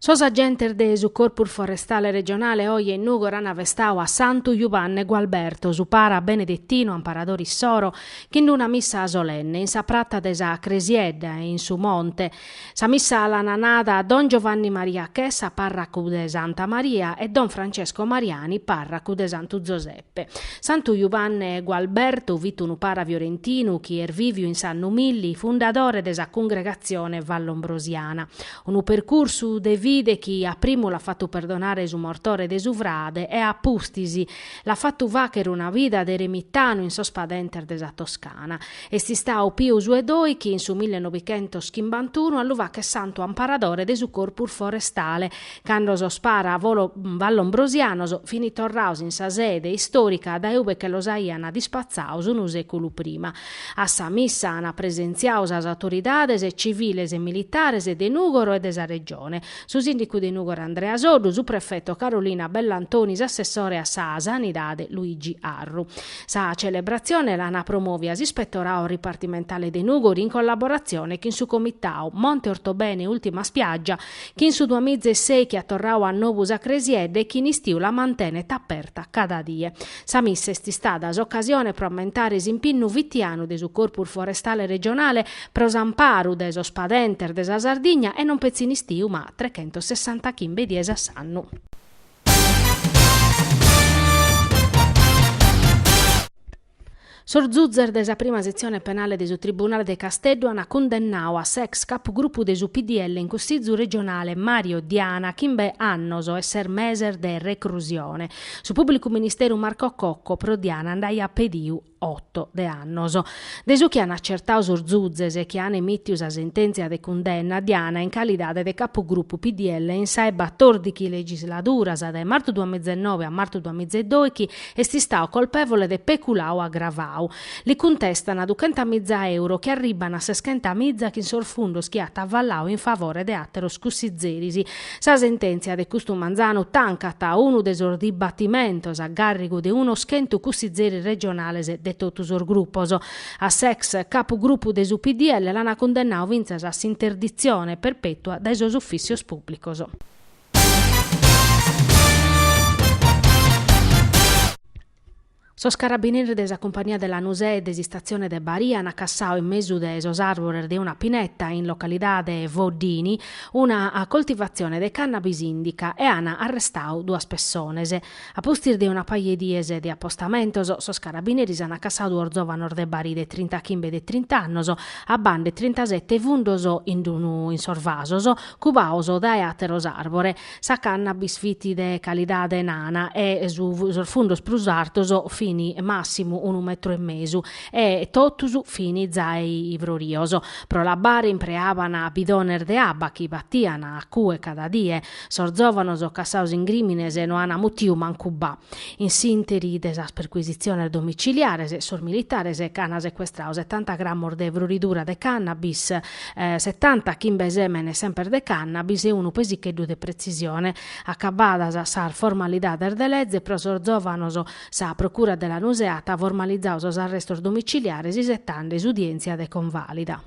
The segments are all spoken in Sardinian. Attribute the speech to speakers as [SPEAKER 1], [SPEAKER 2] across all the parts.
[SPEAKER 1] Sos agentes de su Corpus Forestale Regionale oje in Nugor an festau a Santu Juvanne Gualberto, su para benedettinu amparadore issoro, chin una missa solenne in sa pratta de sa Cresiedda e in su monte. Sa missa l'ana nada Don Giovanni Maria Chessa, parracu de Santa Maria e Don Francesco Mariani, parracu de Santu Zosè. pe. Santu Juvanne Gualbertu fit unu para fiorentinu chi est vìviu in s'annu milli, fundadore de sa cungregatzione vallombrosiana. Unu percursu de fide chi a primu l'at fatu perdonare su mortore de su frade e a pustis l'at fatu fàchere una vida de eremitanu in sos padentes de sa Toscana. Est istau Piu su 'e doichi in su millenobighentos chimbantuunu a lu fàchere santu amparadore de su Corpus Forestale Cando sos paras vallombrosianos fini torraos in sa sede istorica dae ube che los aian dispatzaos unu seculu prima. A sa missa an presentziau sas autoridades civiles e militares de Nugoro e de sa Regione, su sindicu de Nugoro Andrea Soddu, su prefeto Carolina Bellantoni, s'assessore a sa Sanidade Luigi Arru. Sa celebratzione l'an promovia s'ispettorau ripartimentale de Nugoro in collaboratzione chin su comitau Monte Ortobene Ultima Spiaggia, chi in su duamiza e ses chi at torrau a nobu sa cresiedda e chi in istiu la mantenet aperta cada die. Sa missa est istada s'ocasione pro ammentare s'impinnu fitianu de su Corpus Forestale Regionale pro s'amparu de sos padentes de sa Sardigna e non petzi in istiu ma trechentossessantachimbe dies a s'annu. Sos zuzzes de sa prima setzione penale de su Tribunale de Casteddu ant cundennau a s'ex capugrupu de su PDL in Cussìzu regionale Mario Diana a chimbe annos e ses meses de recrusione. Su pùblicu ministeru Marco Cocco pro Diana nd'aiat pediu oto de annos. De su chi ant acertau sos zuzzes chi ant emìtiu sa sentèntzia de cundenna, Diana in calidade de capugrupu PDL in sa 'e batòrdighi legisladura, sa dae martu duamiza e noe a martu duamiza e doighi, Est istau colpevole de peculau agravau. Li cuntestana duchenta miza euro chi arribbana a seschenta miza chin sos fundos chi at avallau in favore de ateros cussizeris. Sa sententzia de custu manzanu tancat unu de sos dibattimentos a garrigu de unos chentu cussizeris regionales de totu sos gruppos. A s'ex capu gruppu de su PDL l'ana cundennau fintzas a s'interditzione perpetua dae sos ufficios pubblicos. Sos carabineris de sa Cumpania de Lanusè e de s'Istatzione de Barì ant cassau in mesu de sos àrvores de una pineta in localidade Foddini una coltivatzione de cannabis indica e ant arrestau duas pessones. A pustis de una paja 'e dies de apostamentos, sos carabineris an cassadu duos zòvanos de Barì de trinta chimbe de trinta annos, abbande trintasete fundos in unu in sos vasos, cubados dae àteros àrbores. Sa cannabis fit de calidade nana e sos fundos prus artos fin màssimu unu metru e mesu e totus fin zai frorios. Pro l'abbare impreaban bidones de abba chi batian a cue cada die. Sos zòvanos cassados in crìmines no ant mutiu mancu ba. In s'ìnteri de sas percuisitziones domiciliares, sos militares ch'ant secuestradu setanta gramos de froridura de cannabis, setanta chimbe sèmenes semper de cannabis e unu pesicheddu de pretzisione. Acabadas sas formalidades de leze pro sos zòvanos, sa procura de Lanusè at formalizadu sos arrestos domiciliares isetande s'udièntzia de convàlida.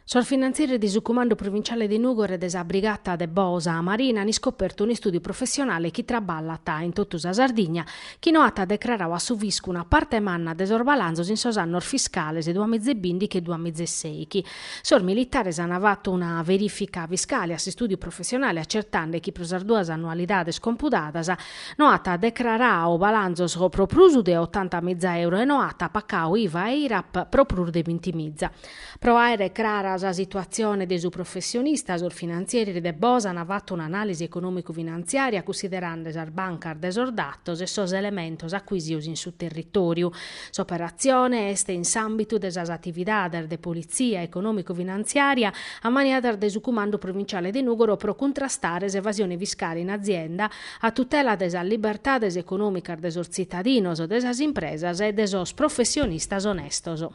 [SPEAKER 1] Sos finantzieris de su Cumandu Provinciale de Nùgoro e de sa Brigata de Bosa Marina an iscopertu un'istùdiu professionale chi traballat in totu sa Sardigna chi no at decraradu a su fiscu una parte manna de sos balanzos in sos annos fiscales duas miza e bìndichi e duas miza e sèichi. Sos militares an fatu una verìfica fiscale a s'istùdiu professionale acertande chi pro sas duas annualidades compudadas No at decrarau balanzos pro prus de otanta miza euro e no at pacau IVA e IRAP pro prus de binti miza. Pro àere crara sa situatzione de su professionista sos finantzieris de Bosa an fatu un'anàlisi econòmicu-finanziària cussiderande sas bancas de sos datos e sos elementos acuisios in su territòriu. S'operatzione est in s'àmbitu de sas atividades de politzia econòmicu-finanziària ammaniadas de su Cumandu Provinciale de Nùgoro pro cuntrastare s'evasione fiscale in azienda, a tutela de sas libertades econòmicas de sos tzitadinos, de sas impresas e de sos professionistas onestos.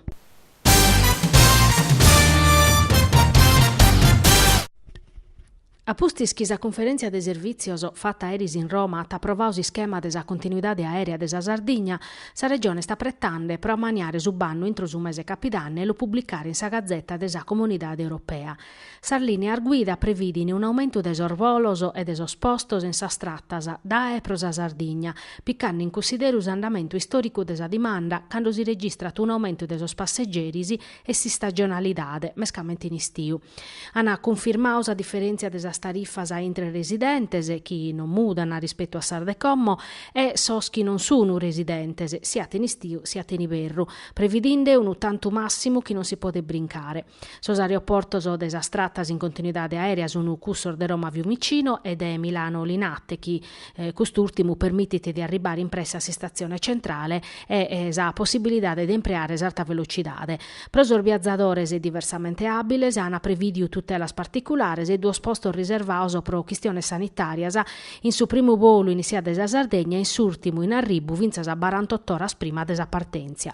[SPEAKER 1] A pustis chi sa Cunferèntzia de Servìtzios fata eris in Roma at aprovadu s'ischema de sa continuidade aèrea de sa Sardigna, sa Regione est apretande pro ammaniare su bannu intro su mese 'e capidanne e lu publicare in sa Gazeta de sa Comunidade Europea. Sas lìneas guida previdin un'aumentu de sos bolos e de sos postos in sas tratas dae e pro sa Sardigna, picande in cussideru s'andamentu istòricu de sa dimanda cando si registrat un'aumentu de sos passegeris e s'istagionalidade, mescamente in istiu. An cunfirmadu sa diferèntzia de sas tarifas intre residentes, chi non mudan rispetu a sas de como, e sos chi non sun residentes, siat in istiu siat in iberru, previdinde unu tantu màssimu chi non si podet brincare. Sos aeroportos de sas tratas in continuidade aèrea sun cussos de Roma Fiumicino e de Milano Linate chi cust'ùrtimu permitit de arribare in presse a s'Istatzione Centrale e sa possibilidade de impreare s'arta velocidade. Pro sos biazadores diversamente àbiles an prevìdiu tutelas particulares e duos postos riservados pro chistiones sanitàrias in su primu bolu in essida dae sa Sardegna e in s'ùrtimu in arribu fintzas a barantotto oras prima de sa partèntzia.